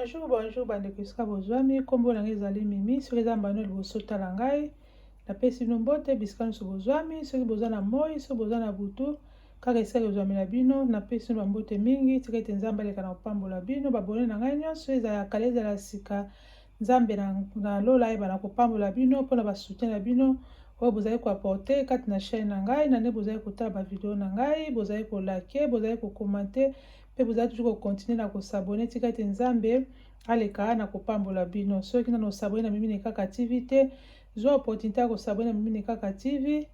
bonjour bonjour bandeko esika bozwami nkombo na ngai ezali mimi soki eza mbano liboso tala ngai napesi bino mbote bisika nyonso bozwami soki boza na moi soki boza na butu Kaka esali ozwami na bino, napesi bino bambote mingi, tika ete Nzambe aleka na kopambola bino, babone na ngai nyonso, ezala ya kala, ezala ya sika, Nzambe na, na lola ayeba na kopambola bino mpo na basutien na bino oyo bozali koaporte kati na chaîne na ngai, na nde bozali kotala bavideo na ngai, bozali kolake, bozali kokomante, mpe bozali toujours kokontinue na kosabone, tika ete Nzambe aleka na kopambola bino. Soki nano osabone na Mimi Nekaka TV te, zwa opportunité ya kosabone na Mimi Nekaka TV,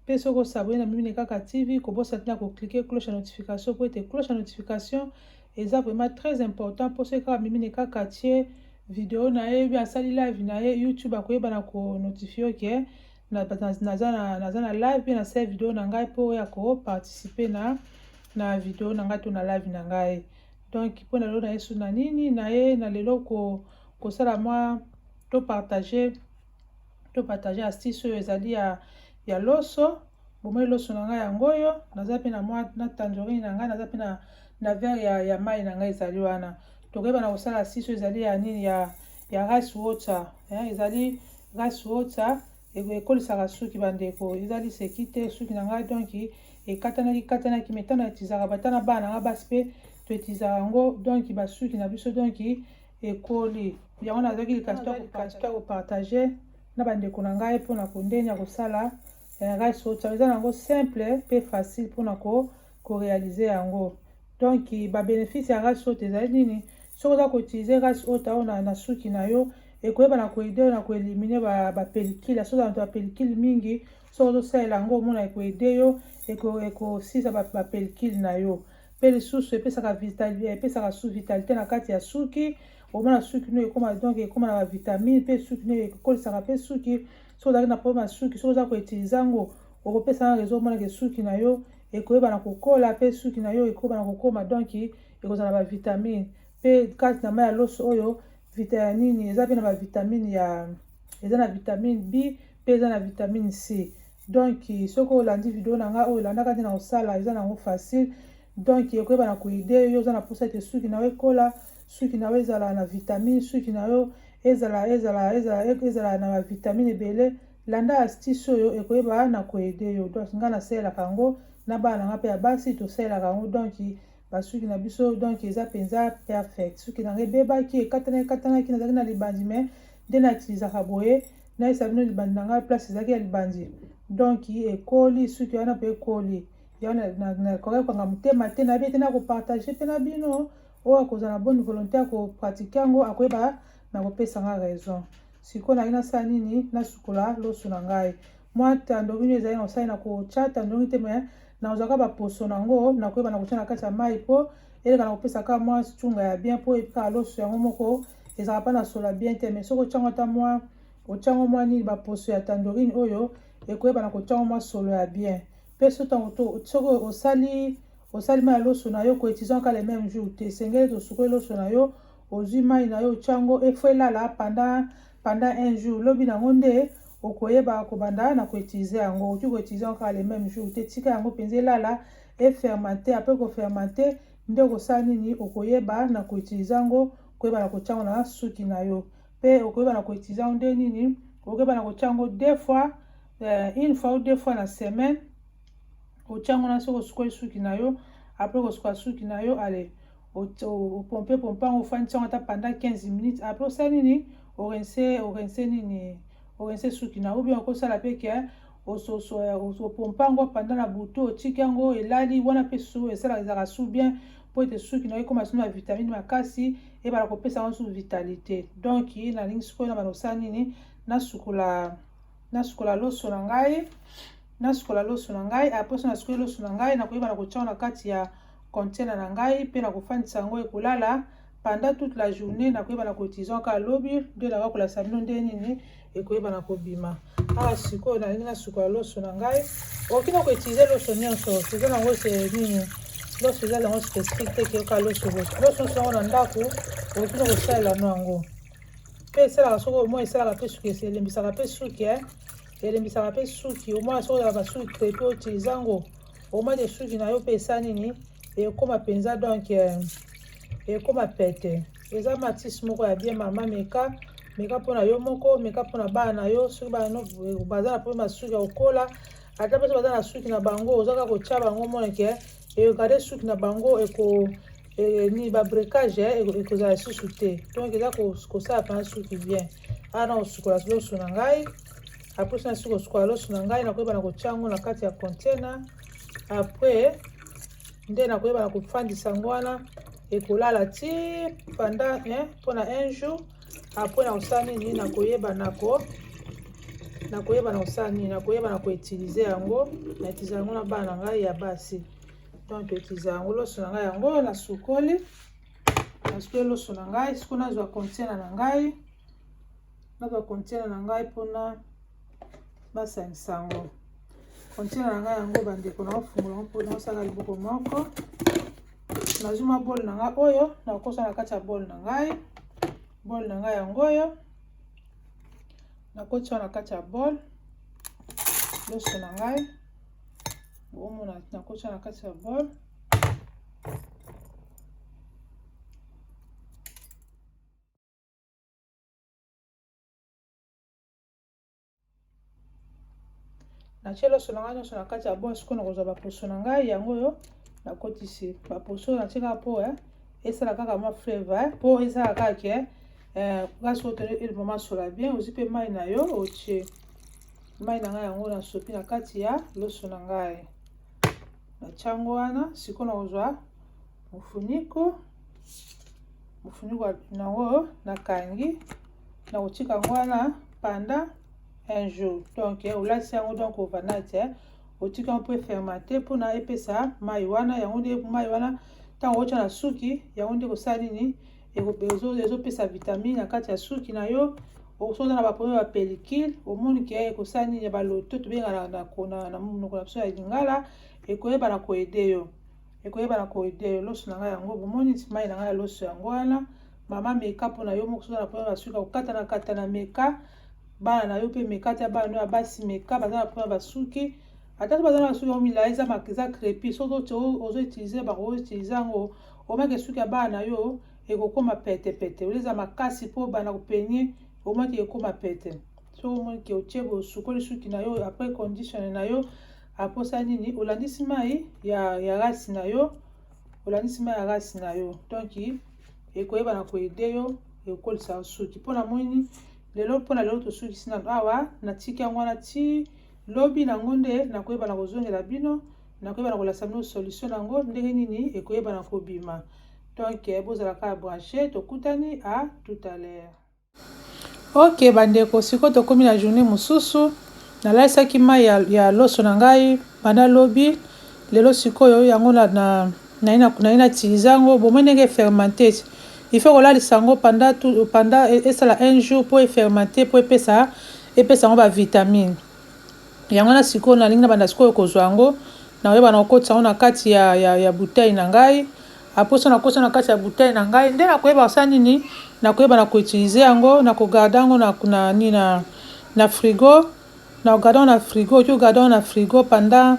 Mpe soki osabone na Mimile Kaka TV, kobosana te na ko cliquer cloche ya notification mpo ete cloche ya notification eza vraiment très important mpo soki kaka Mimile Kaka atie video na ye obi asali live na ye YouTube akoyeba na ko notifie yo ke naza na, naza na live mpe nasali video na ngai mpo oya ko participer na na video na ngai to na live na ngai donc mpo na lelo na yesu na nini na ye na lelo ko kosala mwa to partager to partage astuce oyo ezali ya, ya loso bomoni loso na ngai yango oyo naza mpe na mwa na tangerine na ngai naza mpe na, na verre ya, ya mai na ngai ezali wana tokoyeba na kosala astuce oyo ezali ya nini ya, ya rice water eh, ezali rice water ekolisaka suki bandeko ezali seki te suki na ngai donki ekatanaki katanaki me ntango na etizaka bata na bana na ngai basi mpe toetizaka yango donki basuki na biso donki ekoli yango nazwaki likasi to kopartage na bandeko na ngai mpo na kondenge ya kosala eh, rice water eza nango simple mpe facile mpo na korealize yango donc babenefice ya rice water ezali nini soki oza koutilize rice water oyo na, na suki na yo ekoyeba na koede yo na koelimine bapelikile ba soki oza na bapelikile mingi soki ozosalela yango omona ekoede yo ekosilisa bapelikile na yo mpe lisusu epesaka vitali epesaka su vitalite na kati ya suki omona suki no ekoma donc ekoma na bavitamine mpe suki no ekolisaka mpe suki soki ozalaki na problème ya suki soki oza koutilize yango okopesa na rezo omonake suki na yo ekoyeba na kokola mpe suki na yo ekoyeba na kokoma donc ekozala na bavitamine mpe kati na mai ya loso oyo vita ya nini eza mpe na bavitamine ya eza na vitamine b pe eza na vitamine C donc soki olandi video na nga oyo elandaka nde na kosala eza na yango facile donc ekoyeba na koide yo oza na mposa ete suki na yo ekola suki na yo ezala na vitamine suki na yo ezala ezala ezala ezala na bavitamine ebele landa astuce oyo ekoyeba na koede yo donc ngai nasalelaka yango na bana na ngai mpe ya basi tosalelaka yango donc basuki na biso donc eza mpenza perfect suki na ngai ebebaki ekatanaki ekatanaki nazalaki na libanzi mai nde na utilisaka boye nayesa bino libandi na ngai place ezalaki ya libandi donc ekoli suki wana mpe ekoli yango nakokaki kokanga motema te nayebi ete nakopartage mpe na bino oyo akozala na bonne volonté ya kopratike yango akoyeba na kopesa ngai raison sikoyo naye nasala nini nasukola loso na ngai mwa tandongi nio ezali na kosali na kotya tandongi te me nakozwaka baposo na yango nakoyeba na kotya na kati ya mai mpo elekana kopesa kaka mwa cunga ya bien mpo epikaka loso yango moko ezalaka mpa na sola bien te mais soki otyango ata mwa otyango mwa nini baposo ya tandorine oyo ekoyebana kotyango mwa solo ya bien mpe so ntango to soki osali osali mai ya loso na yo koetizan ka le meme jour te esengeli tosukoli loso na yo ozwi mai na yo otyango efo elala panda panda un jour lobi nango nde okoyeba kobanda na koetize yango okoki koetize yango kaka le meme jour te tika yango mpenza elala efermente apres kofermente Nde okosala nini? Okoyeba na ko utiliser yango, koyeba na kotia yango na suki na yo. Pe okoyeba na ko utiliser yango nde nini? Okoyeba na kotia yango deux fois, euh, une fois ou deux fois na semaine. Otia yango na soki osukoli suki na yo, après kosukola suki na yo, allez, opompe pompe yango, ofandisi yango ata pendant 15 minutes. Après osala nini? Orense, orense nini? Orense suki na yo. Ou bien okosala pe que ososo ya opompa yango apanda na butu otiki yango elali wana mpe su esalaka ezalaka su bien mpo ete suki nayo ekoma sino na vitamine makasi ebala kopesa yango susu vitalite donc nalingi sikoyo na bana osala nini nasukola nasukola loso na ngai nasukola loso na ngai apres na sukoli loso na ngai nakoyeba na kotyango na kati ya container na ngai mpe nakofandisa yango ekolala pendant toute la journée nakoyeba na cotisant kaka lobi nde naka kolakisa bino nde nini ekoyeba na kobima awa ah, sikoyo nalingi nasukola loso na ngai okoki na koutilize loso nyonso eza nango se nini loso eza nango spécifique te keyoka loso loso loso nyonso yango na ndako okoki na kosalela no yango mpe esalaka soki omoi esalaka mpe suki elembisaka mpe suki e eh. elembisaka mpe suki omoi soki ozalaka suki crepe outilize yango omoi de suki na yo mpe esa nini ekoma mpenza donc eh, ekoma pete eza matisi moko ya bien mama meka meka mpo na yo moko meka mpo na bana na yo soki bana baza na mpo masuki ya kokola ata mpe soki baza na suki na bango oza kaka kotya bango moneke egarde suki na bango eko e, ni babrecage eh, ekozala lisusu te donc eza kosala mpena suki bien awa na kosukola loso na ngai apres nasi kosukola loso na ngai nakoyeba na kotya yango na kati ya container après nde nakoyeba na kofandisa yango wana ekolala ti panda eh, mpona un jour apres na kosala nini nakoyeba nako nakoyeba na kosala nini nakoyeba na koutilize yango na utilize yango na bana na ngai ya basi donc toutilize yango loso na ngai yango nasukoli nasukoli loso na ngai siko nazwa contiena na ngai nazwa contiena na ngai mpona basangisa yango kontina na ngai yango bandeko na ofungola yango mpo naosala liboko moko nazwi mwa bole na ngai oyo nakokosa na kati ya bole na ngai bole na ngai yango oyo nakotia na kati ya bole loso na ngai boomona nakotia na kati ya bole natie loso na ngai nyonso na kati ya bon sikoyo nakozwa baposo na ngai yango oyo nakotisi baposo natie kaka po eh, esala kaka mwa flavor eh, po esala kaka ke eh, kasi oyo mama sola bien ozwi mpe mai na yo otie mai na ngai yango nasopi na kati ya loso na ngai natyango wana sikoyo nakozwa mofuniko mofuniko nango nakangi na kotika yango wana panda un jour donc eh, olati yango donc ovanati eh. otika yango mpo efermate mpona epesa mai wana yango nde mai wana ntango otya na suki yango nde kosala nini ezopesa vitamine na kati ya suki na yo osoza na baproblème ya pellicule omoni ke ekosala nini ya baloto tobengana na monoko na biso ya lingala ekoyeba na koede yo ekoyeba na koide yo loso na ngai yango bomoni ti mai na ngai ya loso yango wana mama meka mpo na yo moko soza na problème ya suki ya kokatana katana meka bana na yo mpe meka ata bana no ya basi meka baza na problème ya basuki ata so baza na basuki yango milai eza maka eza crepi soki oti ozo utilize bango utilize yango omaki esuki ya bana na yo ekokoma petepete oleza makasi mpo bana kopenie omaki ekoma pete soki omoni ke otie bosukoli suki na yo après condition na yo aposa nini olandisi mai ya, ya rasi na yo olandisi mai ya rasi na yo donc ekoyeba na koede yo ekokolisa suki mpo namoni lelo mpo na lelo tosukisi nano awa natiki yango wana ti lobi nango nde nakoyeba na kozongela bino nakoyeba na kolasa bino solution nango ndenge nini ekoyeba na kobima donc bozala kaka branche tokutani a tout à l'heure Ok bandeko sikoyo tokomi na journee mususu nalalisaki mayi ya loso na ngai banda lobi lelo sikoyo yango naye na tilisa yango bomoni ndenge e fermenter il faut kolalisa yango pendant esala un jour po e fermenter po epesa yango ba vitamines. Yango wana sikoyo nalingi na banda sikoyo kozwa yango. Nakoyeba na kokotisa yango na kati ya, ya, ya bouteille na ngai. Apres wana nakosa na kati ya bouteille na ngai, nde nakoyeba kosala nini? Nakoyeba na koutilize yango, na kogarde yango na, na, ni na, na frigo. Na kogarde yango na frigo, oki kogarde yango na frigo pendant,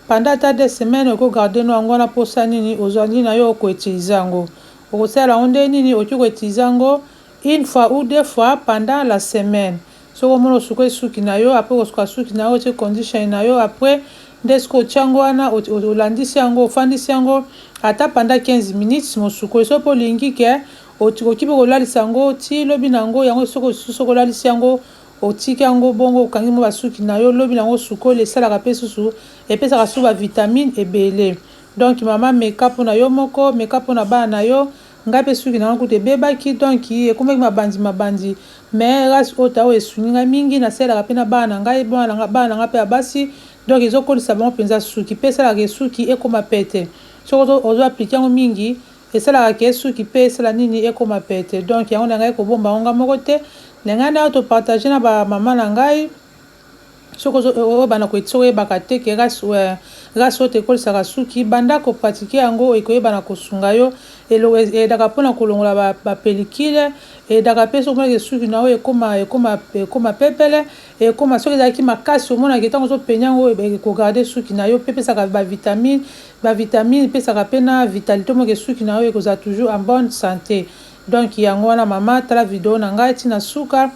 pendant ata deux semaines, oki kogarde no yango wana posa nini? Ozali na yo koutilize yango. Okosalela yango nde nini? Oki koutilize yango une fois ou deux fois pendant la semaine. Soki omoni osukoli suki na yo apres kosuka suki na yo otie condition na yo apres nde sikoyo otie yango wana olandisi yango ofandisi yango ata pendant 15 minutes sima osukoli soki mpe olingi ke okoki mpe kolalisa yango ti lobi na yango yango soki lisusu soki olalisi yango otiki yango bongo okangi mwa basuki na yo lobi na yango osukoli esalaka mpe susu epesaka susu bavitamine ebele donc mama meka mpo na yo moko meka mpo na bana na yo Nga pe suki nanga kutu ebebaki donc ekomaki mabanzi mabanzi mais race oyo tao esungi nga mingi nasalelaka pe na bana na ngai bana nanga bana nanga pe ya basi donc ezo kolisa bango penza suki pe esalaka ke suki ekoma pete soki ozo applique yango mingi esalaka ke suki pe esala nini ekoma pete donc yango nalingaki kobomba yango nga moko te nalingaki nao to partage na ba maman na ngai Soki ozo oyebana ko soki oyebaka te ke race eh race oyo te ekolisaka suki banda ko pratiquer yango ekoyebana kosunga yo eloko edaka pona kolongola ba ba pellicule edaka pe soki omoni ke suki na yo ekoma ekoma ekoma pepele ekoma soki ezalaki makasi omona ke tango ozo peigner yango eko garder suki na yo pe epesaka ba vitamine ba vitamine epesaka pe na vitalite omona ke suki na yo ekozala toujours en bonne sante donc yango wana mama tala video na ngai ti na suka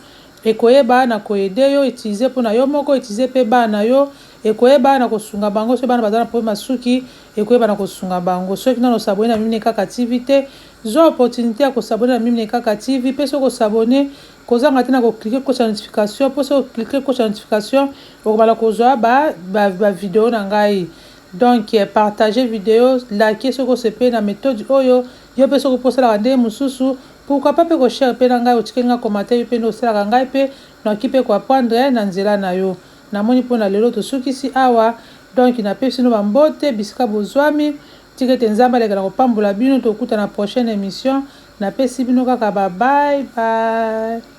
Ekoyeba na ko aider yo utiliser pona yo moko utiliser pe bana na yo ekoyeba na ko sunga bango soki bana baza na problème ya suki ekoyeba na ko sunga bango soki nanu o s'abonner na mimie kaka TV te zua opportunite ya ko s'abonner na mimie kaka TV pe soki o s'abonner kozanga te na ko cliquer koche ya notification po soki o cliquer koche ya notification okobanda kozua ba ba video na ngai donc partager video laquer soki osepeli na methode oyo yo pe soki po osalaka ndenge mususu Pourquoi pas pe ko share pe na ngai otikeli nga commentaire yo pe nde osalaka ngai pe noki pe ko apprendre na nzela na yo na moni po na lelo tosukisi awa donc na pesi bino ba mbote bisika bozuami tika ete nzambe aleka na kopambola bino tokuta na prochaine emission na pesi bino kaka ba bye bye.